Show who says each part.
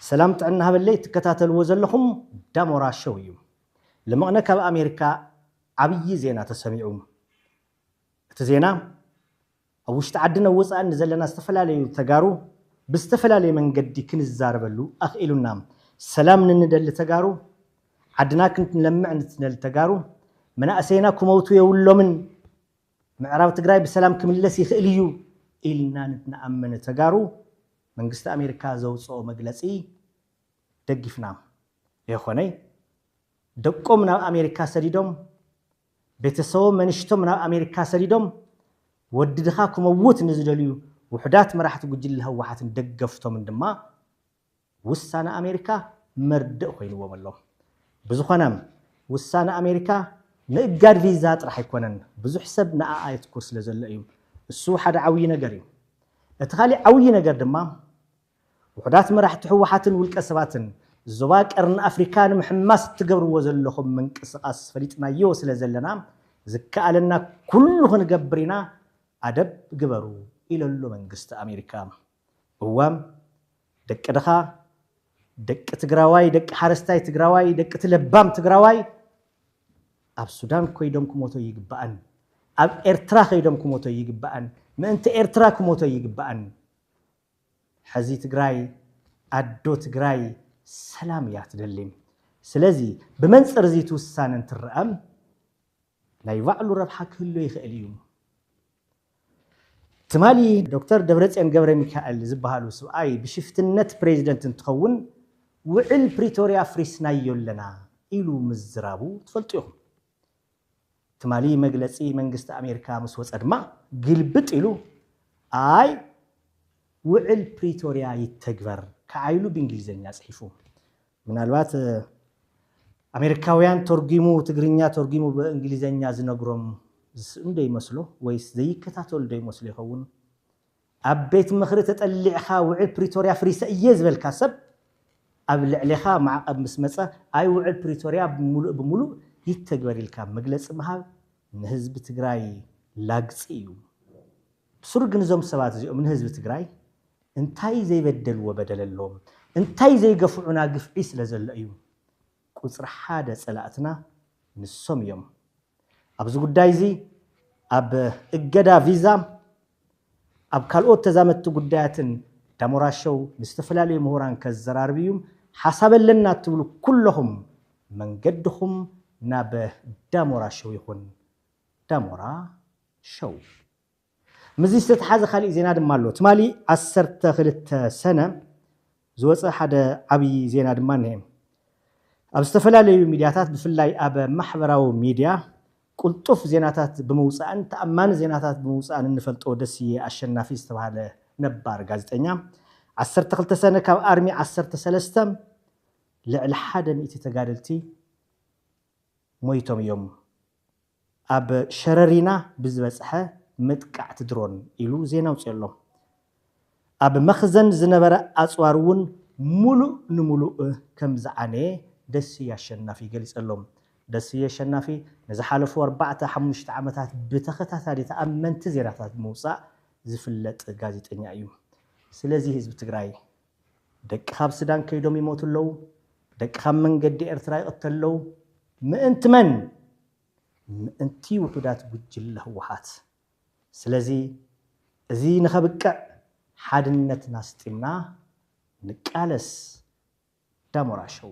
Speaker 1: ሰላም ጥዕና ሃበለይ ትከታተልዎ ዘለኹም ዳሞራ ሸው እዩ ልመቕነ ካብ ኣሜሪካ ዓብዪ ዜና ተሰሚዑ እቲ ዜና ኣብ ውሽጢ ዓድን ኣብ ወፃእን ንዘለና ዝተፈላለዩ ተጋሩ ብዝተፈላለየ መንገዲ ክንዛረበሉ ኣኽኢሉና ሰላም ንንደሊ ተጋሩ ዓድና ክንለምዕ ንትደሊ ተጋሩ መናእሰይና ክመውቱ የብሎምን ምዕራብ ትግራይ ብሰላም ክምለስ ይኽእል እዩ ኢልና ንኣምን ተጋሩ መንግስቲ ኣሜሪካ ዘውፅኦ መግለፂ ደጊፍና የኾነይ ደቆም ናብ ኣሜሪካ ሰዲዶም ቤተሰቦም መንሽቶም ናብ ኣሜሪካ ሰዲዶም ወዲ ድኻ ክመውት ንዝደልዩ ውሑዳት መራሕቲ ጉጅለ ህወሓትን ደገፍቶምን ድማ ውሳነ ኣሜሪካ መርድእ ኮይንዎም ኣሎ። ብዝኾነ ውሳነ ኣሜሪካ ምእጋድ ቪዛ ጥራሕ ኣይኮነን፣ ብዙሕ ሰብ ንኣኣ የትኩር ስለዘሎ እዩ። እሱ ሓደ ዓብዪ ነገር እዩ። እቲ ካሊእ ዓብዪ ነገር ድማ ውሑዳት መራሕቲ ህወሓትን ውልቀ ሰባትን ዞባ ቀርኒ ኣፍሪካ ንምሕማስ እትገብርዎ ዘለኹም ምንቅስቓስ ፈሊጥናዮ ስለዘለና ዝከኣለና ኩሉ ክንገብር ኢና ኣደብ ግበሩ ኢለሎ መንግስቲ ኣሜሪካ። እዋም ደቂ ድኻ ደቂ ትግራዋይ ደቂ ሓረስታይ ትግራዋይ ደቂ ትለባም ትግራዋይ ኣብ ሱዳን ኮይዶም ክሞቶ ይግባኣን ኣብ ኤርትራ ከይዶም ክሞቶ ይግባኣን ምእንቲ ኤርትራ ክሞቶ ይግባኣን ሐዚ ትግራይ ኣዶ ትግራይ ሰላም እያ ትደሊም ስለዚ ብመንፅር እዚ ትውሳነ እንትረኣም ናይ ባዕሉ ረብሓ ክህሎ ይኽእል እዩ። ትማሊ ዶክተር ደብረፅዮን ገብረሚካኤል ዝብሃሉ ስብኣይ ብሽፍትነት ፕሬዚደንት እንትኸውን ውዕል ፕሪቶርያ ኣፍሪስናዮ ኣለና ኢሉ ምዝራቡ ትፈልጡ ኢኹም። ትማሊ መግለፂ መንግስቲ ኣሜሪካ ምስ ወፀ ድማ ግልብጥ ኢሉ ኣይ ውዕል ፕሪቶርያ ይተግበር ከዓ ኢሉ ብእንግሊዘኛ ፅሒፉ። ምናልባት ኣሜሪካውያን ተርጉሙ ትግርኛ ተርጉሙ ብእንግሊዘኛ ዝነግሮም ዝስእኑ ዶ ይመስሉ ወይስ ዘይከታተሉ ዶ ይመስሉ ይኸውን? ኣብ ቤት ምኽሪ ተጠሊዕኻ ውዕል ፕሪቶርያ ኣፍሪሰ እየ ዝበልካ ሰብ ኣብ ልዕሌኻ ማዕቐብ ምስ መፀ ኣይ ውዕል ፕሪቶርያ ሙሉእ ብሙሉእ ይተግበር ኢልካ መግለፂ ምሃብ ንህዝቢ ትግራይ ላግፂ እዩ። ብስሩ ግን እዞም ሰባት እዚኦም ንህዝቢ ትግራይ እንታይ ዘይበደልዎ በደል ኣለዎም እንታይ ዘይገፍዑና ግፍዒ ስለ ዘሎ እዩ ቁጽሪ ሓደ ጸላእትና ንሶም እዮም ኣብዚ ጉዳይ እዚ ኣብ እገዳ ቪዛ ኣብ ካልኦት ተዛመድቲ ጉዳያትን ዳሞራ ሸው ንዝተፈላለዩ ምሁራን ከዘራርብ እዩ ሓሳብ ኣለና እትብሉ ኩለኹም መንገድኹም ናብ ዳሞራ ሸው ይኹን ዳሞራ ሸው። ምስዚ ዝተተሓዘ ካሊእ ዜና ድማ ኣሎ። ትማሊ ዓሰርተ ክልተ ሰነ ዝወፀ ሓደ ዓብዪ ዜና ድማ እኒሀ። ኣብ ዝተፈላለዩ ሚድያታት ብፍላይ ኣብ ማሕበራዊ ሚድያ ቁልጡፍ ዜናታት ብምውፃእን ተኣማኒ ዜናታት ብምውፃእን እንፈልጦ ደስየ ኣሸናፊ ዝተብሃለ ነባር ጋዜጠኛ ዓሰርተ ክልተ ሰነ ካብ ኣርሚ ዓሰርተ ሰለስተ ልዕሊ ሓደ ሚእቲ ተጋደልቲ ሞይቶም እዮም ኣብ ሸረሪና ብዝበጽሐ መጥቃዕቲ ድሮን ኢሉ ዜና ኣውጺኦሎም። ኣብ መኽዘን ዝነበረ ኣጽዋር እውን ሙሉእ ንሙሉእ ከም ዝዓነየ ደስየ ኣሸናፊ ገሊጸሎም። ደስየ ኣሸናፊ ንዝሓለፉ ኣርባዕተ ሓሙሽተ ዓመታት ብተኸታታሊ ተኣመንቲ ዜናታት ብምውጻእ ዝፍለጥ ጋዜጠኛ እዩ። ስለዚ ህዝቢ ትግራይ ደቂ ካብ ስዳን ከይዶም ይሞቱ ኣለው ደቂ ካብ መንገዲ ኤርትራ ይቅተል ኣለው ምእንቲ መን ምእንቲ ውሑዳት ጉጅለ ህወሓት ስለዚ እዚ ንከብቅዕ ሓድነትና ኣስጢምና ንቃለስ ዳሞራ ሸው።